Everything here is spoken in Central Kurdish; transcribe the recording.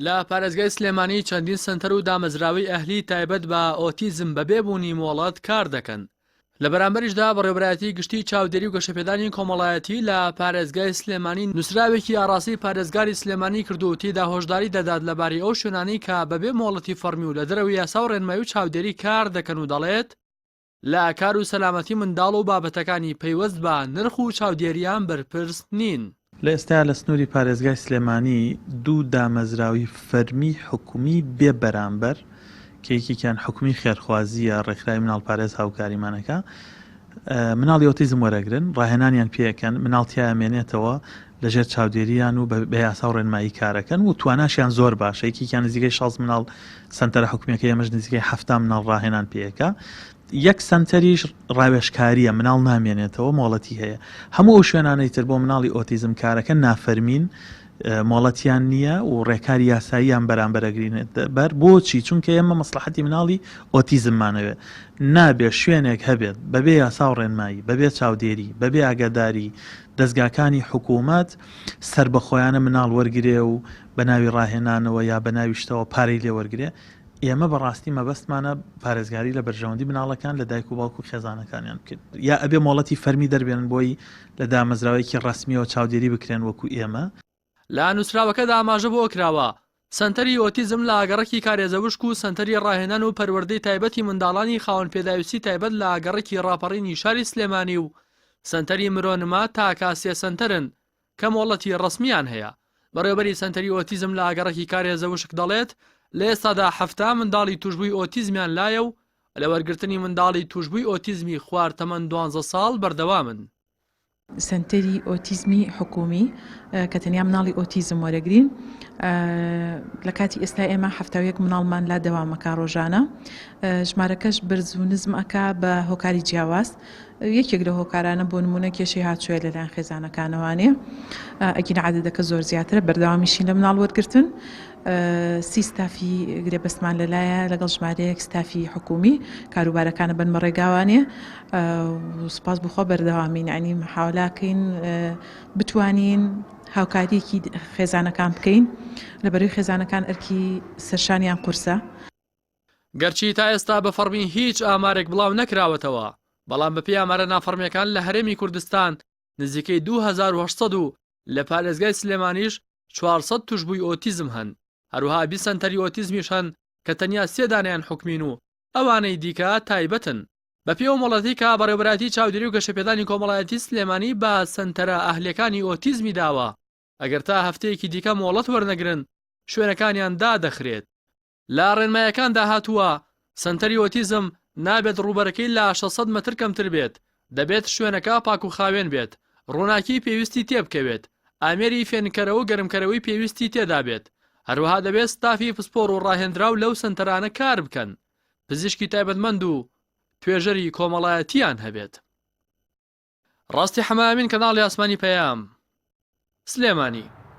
لە پارێزگای سلێمانی چەندین سەنتەر و دامەزراوەی ئەهلی تایبەت بە ئۆتیزم بەبێ بوونی مۆڵەت کار دەکەن. لە بەرامبەریشدا بەڕێوەبەرایەتی گشتی چاودێری و گەشەپێدانی کۆمەڵایەتی لە پارێزگای سلێمانی نووسراوێکی ئاڕاستەی پارێزگاری سلێمانی کردووە و تێیدا هۆشداری دەدات لەبارەی ئەو شوێنانەی کە بەبێ مۆڵەتی فەڕمی و لە دەرەوەی یاسا و ڕێنمایی و چاودێری کار دەکەن و دەڵێت، لە کار و سەلامەتی منداڵ و بابەتەکانی پەیوەست بە نرخ و چاودێرییان بەرپرس نین. لە ئێستایا لە سنووری پارێزگای سلێمانی دوو دامەزراوی فەرمی حکومی بێ بەرامبەر کە یەکێکیان حکومی خێرخوازییە ڕێکخراوی مناڵپارێز هاوکاریمان ئەکا مناڵی ئۆتیزم وەرەگرن ڕاهێنانیان پێ ئەکەن مناڵ تیایا مێنێتەوە لە ژێر چاودێرییان و بە یاسا و ڕێنمایی کار ئەکەن و تواناشیان زۆر باشە یەکێکیان نزیکەی شەست مناڵ سەنتەرە حکومیەکەی ئێمەش نزیکەی حەفتا مناڵ ڕاهێنان پێیەکە یەک سەنتەریش ڕاوێشکاریە مناڵ نامێنێتەوە مۆڵەتی هەیە هەموو ئەو شوێنانەی تر بۆ مناڵی ئۆتیزم کارەکە نافەرمین مۆڵەتیان نییە و ڕێکاری یاساییان بەرامبەرەگرینێت بەر بۆچی چونکە ئێمە مەسلحەتی مناڵی ئۆتیزممانەوێت نابێت شوێنێک هەبێت بەبێ یاسا و ڕێنمایی بەبێ چاودێری بەبێ ئاگاداری دەستگاکانی حکوومەت سربەخۆیانە مناڵ وەرگێ و بەناوی ڕاهێنانەوە یا بەناوی شتەوە پارەی لێ وەرگرێ، ئێمە بەڕاستی مەبەستمانە پارێزگاری لە بەرژەوەندی مناڵەکان لە دایک و باوک و خێزانەکانیان بکەین، یا ئەبێ مۆڵەتی فەرمی دەربێنن بۆی لە دامەزراوەیەکی ڕەسمیەوە چاودێری بکرێن وەکو ئێمە. لە نووسراوەکەدا ئاماژە بەوە کراوە، سەنتەری ئۆتیزم لە ئاگەڕەکی کارێزەوشک و سەنتەری ڕاهێنان و پەروەردەی تایبەتی منداڵانی خاوەن پێداویستی تایبەت لە ئاگەڕەکی ڕاپەڕینی شاری سلێمانی و سەنتەری مرۆ نما تاکا سێ سەنتەرن کە مۆڵەتی ڕەسمییان هەیە. بەڕێوەبەری سەنتەری ئۆتیزم لە ئاگەڕەکی کارێزە وشک دەڵێت، لە ئێستادا حەفتا منداڵی تووشبووی ئۆتیزمیان لایە و لە وەرگرتنی منداڵی تووشبووی ئۆتیزمی خوار تەمەن دوانزە ساڵ بەردەوامن. سەنتەری ئۆتیزمی حکوومی کە تەنیا مناڵی ئۆتیزم وەرەگرین، لە کاتی ئێستا ئێمە حەفتا و یەک مناڵمان لا دەوام ئەکا ڕۆژانە. ژمارەکەش بەرز و نزم ئەکا بە هۆکاری جیاواز. یەکێک لە هۆکارانە بۆ نموونە کێشەی هاتوویە لەلایەن خێزانەکانەوانێ ئەگینا عەدەدەکە زۆر زیاترە بەردەوامیشین لە مناڵ وەرگرتن سی ستافی گرێبەستمان لەلایە لەگەڵ ژمارەیەک ستافی حکومی کاروبارەکانە بنمە ڕێگاوانێ سپاس بخوا بەردەوامین عنی حاولاکەین بتوانین هاوکاریەکی خێزانەکان بکەین لەبەروی خێزانەکان ئەرکی سەرشانیان قورسە. گەرچی تا ئێستا بە فەڕمی هیچ ئامارێک بڵاو نەکراوەتەوە، بەڵام بەپێی ئامارە نافەڕمییەکان لە هەرێمی کوردستان نزیکەی دوو هەزار و هەشت سەد و لە پارێزگای سلێمانیش چوار سەد توشبووی ئۆتیزم هەن، هەروەها بیست سەنتەری ئۆتیزمیش هەن کە تەنیا سێ دانەیان حکومین و ئەوانەی دیکە تایبەتن. بەپێی ئەو مۆڵەتی کە بەڕێوەبەرایەتی چاودێری و گەشەپێدانی کۆمەڵایەتی سلێمانی بە سەنتەرە ئەهلییەکانی ئۆتیزمی داوە، ئەگەر تا هەفتەیەکی دیکە مۆڵەت وەرنەگرن شوێنەکانیان دادەخرێت، لە ڕێنمایەکاندا هاتووە، سەنتەری ئۆتیزم نابێت ڕووبەرەکەی لە شەش سەد مەتر کەمتر بێت، دەبێت شوێنەکە پاکوخاوێن بێت، ڕووناکی پێویستی تێبکەوێت، ئامێری فێنککەرەوەو گەرمکەرەوەی پێویستی تێدابێت، هەروەها دەبێت ستافی پسپۆڕ و ڕاهێندراو لەو سەنتەرانە کاربکەن، پزیشکی تایبەتمەند و توێژەری کۆمەڵایەتییان هەبێت. ڕاستی حەمە ئەمین کەناڵی ئاسمانی پەیام سلێمانی.